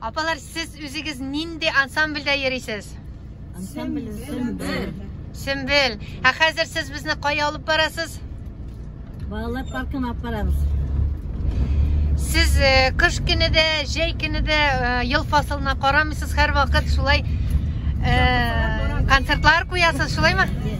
Апалар, сез үзегез нинди ансамбльдә йөрисез? Ансамбль Сөмбел. Сөмбел. Ә хәзер сез безне кая алып барасыз? Балалар паркына алып барабыз. Сез э, кыш көне дә, җәй көне дә э, ел фасылына карамыйсыз, һәр вакыт шулай э, концертлар куясыз, шулаймы? Э,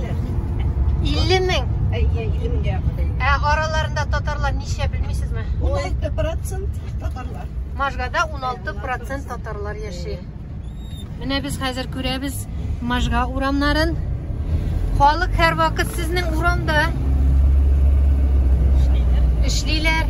кешесе. 50 мең? Әйе, 50 меңгә якын. Ә араларында татарлар ничә белмисезме? 16% татарлар. Можгада 16% татарлар яши. Менә без хәзер күрәбез Можга урамнарын. Халык һәрвакыт сезнең урамда эшлиләр.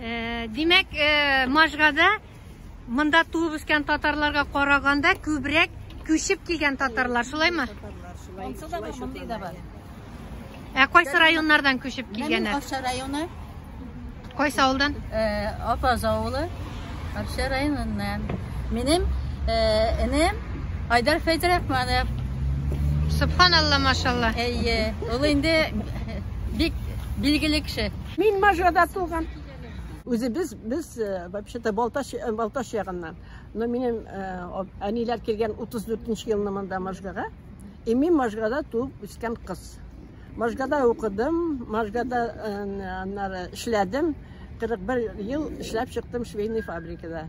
Э, димәк, э, Можгада монда туып үскән татарларга караганда күбрәк күчеп килгән татарлар, шулаймы? Онсы да бар, мондый да бар. Ә кайсы районнардан күчеп килгәннәр? Акча районы. Кайсы авылдан? Э, Апаз авылы, Акча районыннан. Минем энем Айдар Фәйдрахманов. Субханалла, машалла. Әйе, ул инде бик билгеле кеше. Мин Можгада туган. Үзе без без вообще-то Балтач Балтач ягыннан. Но минем әниләр килгән 34 нче елны монда Можгага. И мин Можгада туып үскән кыз. Можгада укыдым, Можгада аннары эшләдем. 41 ел эшләп чыктым швейный фабрикада.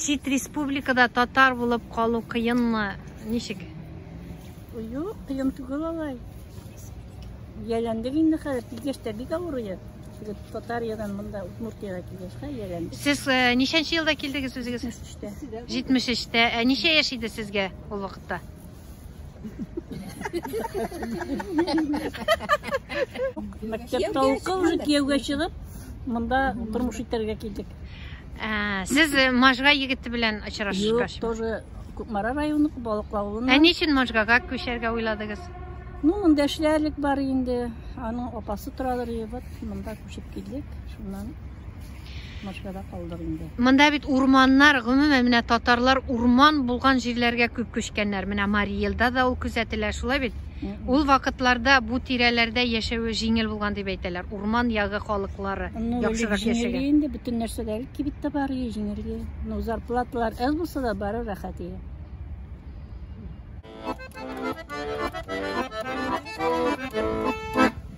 Чит республикада татар булып калу кыенмы? Ничек? Юк, кыен түгел алай. Яләндек инде хәзер, килгәч тә бик авыр иде. Килеп Татариядан монда Удмуртиягә килгәч тә яләндек. Сез э, ничәнче елда килдегез үзегез? Төштә. 73-тә. Ә ничә яшь иде сезгә ул вакытта? Мәктәптә укып, уже кияүгә чыгып, монда тормыш итәргә килдек. Ә, Сез э, Можга егете белән Юк, очрашышкач. тоже Кукмара районы, Балык авылына. Ә ни өчен Можгага күчәргә уйладыгыз? Ну, монда эшләрлек бар инде. Аның апасы торадыр, и вот монда күчеп килдек. Шуннан Москвада калдык инде. Монда бит урманнар, гомумән, менә татарлар урман булган җирләргә күп күчкәннәр. Менә Марий Елда да ул күзәтелә, шулай бит? Ул вакытларда бу тирәләрдә яшәве җиңел булган дип әйтәләр, урман ягы халыклары Ну, элек яхшырак җиңел яшәгән. иде инде, бөтен нәрсә дә әле кибеттә бар иде, җиңел иде. Ну, зарплаталар әз булса да, бары рәхәт иде.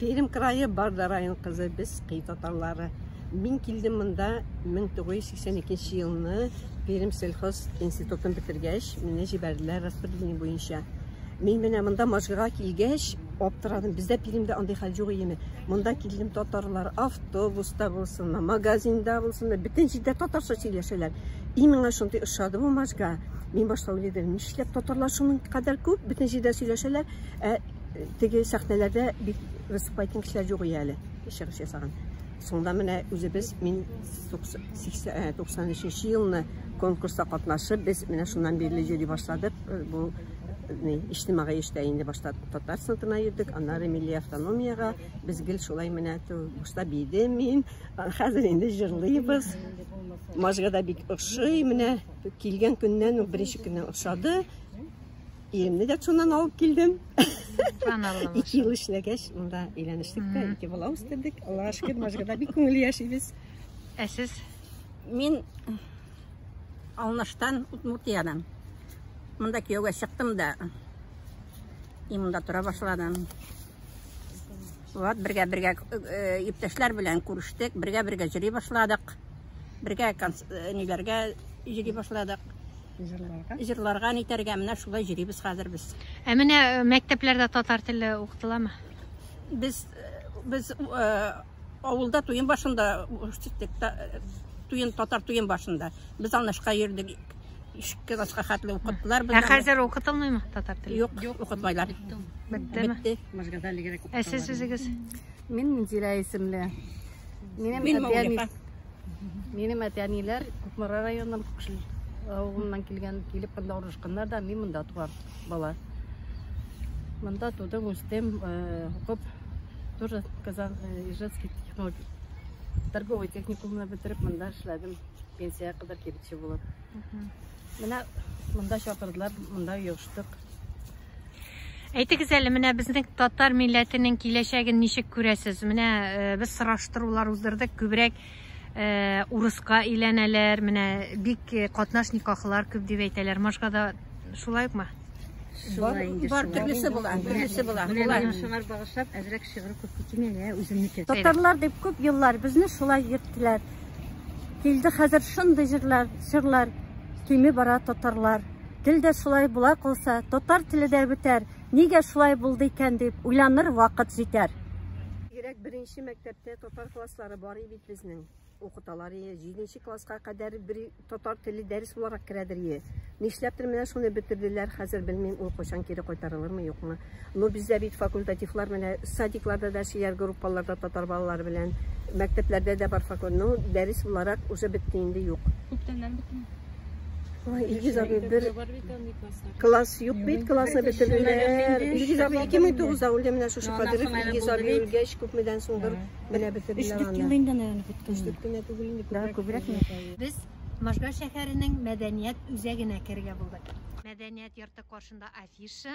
Пермь крае Барда район кызы, без Кый татарлары. Мин килдем монда 1982 елны Пермь сельхоз институтын бетергәч, мине җибәрделәр распределение буенча. Мин менә монда Можгага килгәч, аптырадым. Бездә Пермьдә андый хәл юк иеме? Монда килдем татарлар автобуста булсын, магазинда булсын, бөтен җирдә татарча сөйләшәләр. И миңа шундый ошады бу Можга. Мин башта уйлыйдым, нишләп татарлар шуның кадәр күп, бөтен җирдә сөйләшәләр, ә Теге сәхнәләрдә бик выступать иткән кешеләр юк иде әле, чыгыш ясаган. Соңда менә үзебез мин 93 елны конкурста катнашып, без менә шуннан бирле йөри башладык. Э, бу э, иҗтимагый эштә инде башта татар сынтына йөрдек, аннары милли автономиягә. Без гел шулай менә башта биде мин, хәзер инде җырлыйбыз. Мажга да бик ошый, менә килгән көннән, беренче көннән ошады. Иремне дә шуннан алып килдем. Ике ел эшләгәч, монда өйләнештек тә, ике бала үстердек. Аллага шөкер, Можгада бик күңелле яшибез. Ә сез? Мин Алныштан, Удмуртиядан. Монда кияүгә чыктым да, и монда тора башладым. Вот, бергә бергә иптәшләр э, белән күрештек, бергә бергә җыри башладык. Бергә э, ниләргә җыри башладык. Җырларга. Җырларга, нитәргә, менә шулай җөрибез хәзер без. Ә менә э, мәктәпләрдә татар теле укытыламы? Без э, без э, авылда туен башында үстек, та- туен татар туен башында. Без алнышка йөрдек. Ишке класска хәтле укыттылар Ә хәзер укытылмыймы татар теле? Юк, укытмайлар. Беттеме? Бетте. Ә сез үзегез? Мин Минзилә исемле. Минем Мин әтиәни... Маугли, Минем әтиәниләр Кукмара районыннан Кукшил авылыннан килгән, килеп монда урнашканнар да, мин монда туган бала. Монда тудым, үстем, э, укып, тоже Казан э, Ижевский технолог... торговый техникумны бетереп, монда эшләдем. Пенсия кадәр кибетче булып. Менә монда чакырдылар, монда йоштык. Әйтегез әле, менә безнең татар милләтенең киләчәген ничек күрәсез? Менә э, без сораштырулар уздырдык, күбрәк э, урыска әйләнәләр, менә бик э, катнаш никахлар күп дип әйтәләр. Машкада шулай укмы? Шулай инде. Бар төрлесе була, төрлесе була. Менә шуңар багышлап әзрәк шигырь күп китми, ә үземнеке. Татарлар дип күп еллар безне шулай йөрттеләр. Килде хәзер шундый җырлар, җырлар кими бара татарлар. Тел дә шулай була калса, татар теле дә бетәр, нигә шулай булды икән дип уйланыр вакыт җитәр. Бигрәк беренче мәктәптә татар класслары бар и бит безнең. Укыталар ие, җиденче класска кадәр бер татар теле дәрес буларак керәдер ие. Нишләптер менә шуны бетерделәр, хәзер белмим, ул кайчан кире кайтарылырмы, юкмы. Ну бездә бит факультативлар менә садикларда да сөяр группаларда татар балалары белән мәктәпләрдә дә бар факультатив ну дәрес буларак уже бетте инде юк күптәннән бетми Ой, Илгиз абый, бер класс юк бит, классы бетерделәр. Илгиз абый 2009-да үлде менә шушы кадәр. Илгиз абый үлгәч, күпмедән соңдыр менә бетерделәр аны. Өч ел инде наверное беткән. Өч кенә түгел инде. Да, күбрәк. Без Можга шәһәренең мәдәният үзәгенә керергә булдык. Мәдәният йорты каршында афиша,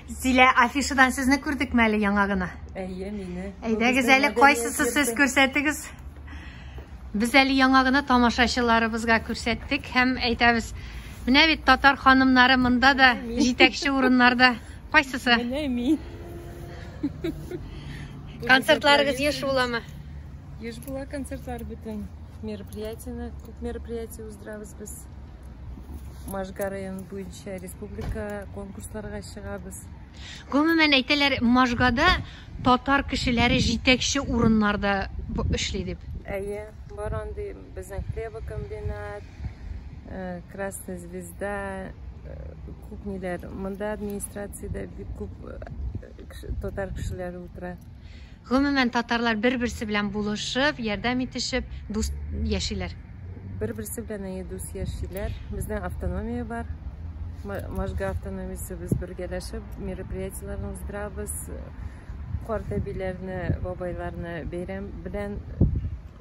Зилә, афишадан сезне күрдек мәле яңа гына? Әйе, мине. Әйдәгез әле кайсысы сез күрсәтегез? Без әле яңа гына тамашачыларыбызга күрсәттек һәм әйтәбез. Менә бит татар ханымнары монда да җитәкче урыннарда. Кайсысы? Менә мин. Концертларыгыз еш буламы? Еш була концертлар бөтен мероприятияне, күп мероприятие уздырабыз без. Можга районы буенча республика конкурсларга чыгабыз. Гомумән әйтәләр, Можгада татар кешеләре җитәкче урыннарда эшли дип. Әйе, бар андый безнең хлебокомбинат, э, Красная звезда, күп ниләр. Монда администрациядә бик күп татар кешеләре утыра. Гомумән, татарлар бер-берсе белән булышып, ярдәм итешеп, дус яшиләр. Бер-берсе белән әйе дус яшиләр. Безнең автономия бар. Можга автономиясе без бергәләшеп мероприятиеләрне уздырабыз. Карт әбиләрне, бабайларны бәйрәм белән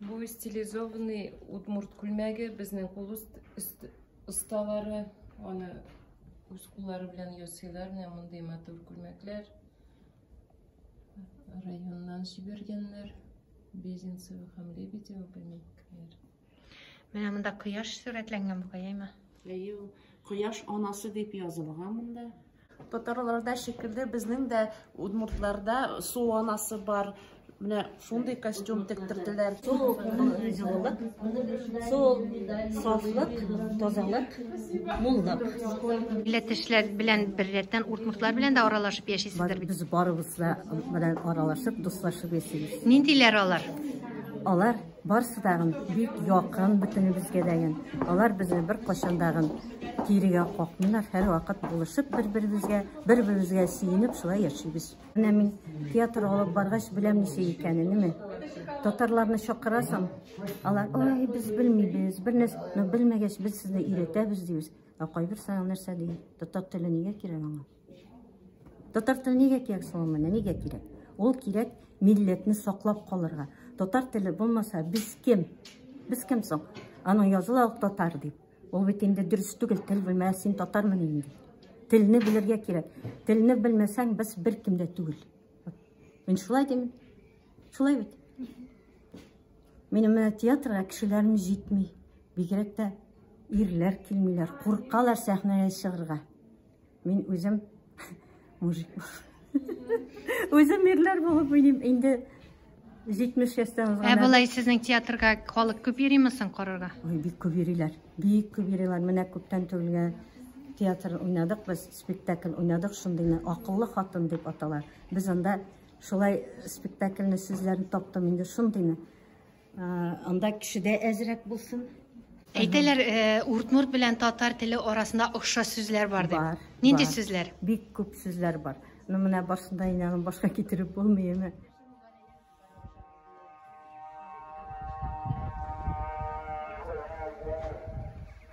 Бу стилизованный удмурт күлмәге безнең кул осталары аны үз куллары белән ясыйлар. Менә мондый матур күлмәкләр. Районнан җибәргәннәр. Безенцево һәм Лебедево күлмәкләр. Менә монда кояш сурәтләнгән бугай, әйме? Әйе, кояш анасы дип язылган монда. Татарларда шикелле безнең дә удмуртларда су анасы бар. Менә шундый костюм тектерделәр. Су җылылык, су сафлык, тазалык, муллык. Милләттәшләр белән беррәттән уртмуртлар белән дә аралашып яшисездер бит. Без барыбыз да белән аралашып, дуслашып яшибез. Ниндиләр алар? Алар Барсы тагын бик якын бөтенебезгә дәген. Алар безне беркайчан дагын кирегә какмыйлар, һәрвакыт булышып бер-беребезгә, бер-беребезгә сөенеп шулай яшибез. Менә мин театр алып баргач беләм ничек икәнен, әйме? Татарларны чакырасың, алар, ой, без белмибез, бернәрсә, но белмәгәч без сезне өйрәтәбез дибез. Ә кайбер саңа нәрсә ди? Татар теле нигә кирәк аңа? Татар теле нигә кирәк соң ул менә? Нигә кирәк? Ул кирәк милләтне саклап калырга. Татар теле булмаса, без кем? Без кем соң? Аның языла ук татар дип. Ул бит инде дөрес түгел, тел белмә, син татармын инде. Телне белергә кирәк. Телне белмәсәң, без бер кем дә түгел. Мин шулай дим. Шулай бит. Минем менә театрга кешеләрем җитми. Бигрәк тә ирләр килмиләр, куркалар сәхнәгә чыгырга. Мин үзем мужик Үзем ирләр булып уйныйм. Инде 70 яшьтән узган. Ә болай сезнең театрга халык күп йөрими соң карарга? Ой, бик күп йөриләр. Бик күп йөриләр. Менә күптән түгелгә театр уйнадык, без спектакль уйнадык, шундыйны акыллы хатын дип аталар. Без анда шулай спектакльне сүзләрен таптым инде шундыйны. Анда кешедә әзрәк булсын. Әйтәләр, уртмурт белән татар теле арасында охшаш сүзләр бар дип. Бар. Нинди сүзләр? Бик күп сүзләр бар. Ну менә барсында инәнең башка китереп булмый инде.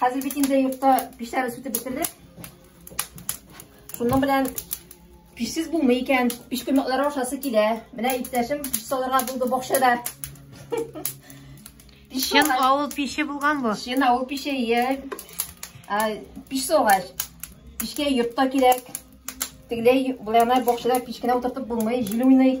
Хәзер бит инде йортта печләр сүтеп бетерде. Шуның белән пешсез булмый икән. Пеш көмәкләре ашасы килә. Менә иптәшем пеш салырга булды бакчада. Чын авыл пеше булган бу. Чын авыл пеше, е. Пеш салгач, пешкә йортта кирәк. Тегеләй, булана бакчада пешкенә утыртып булмый, җил уйный.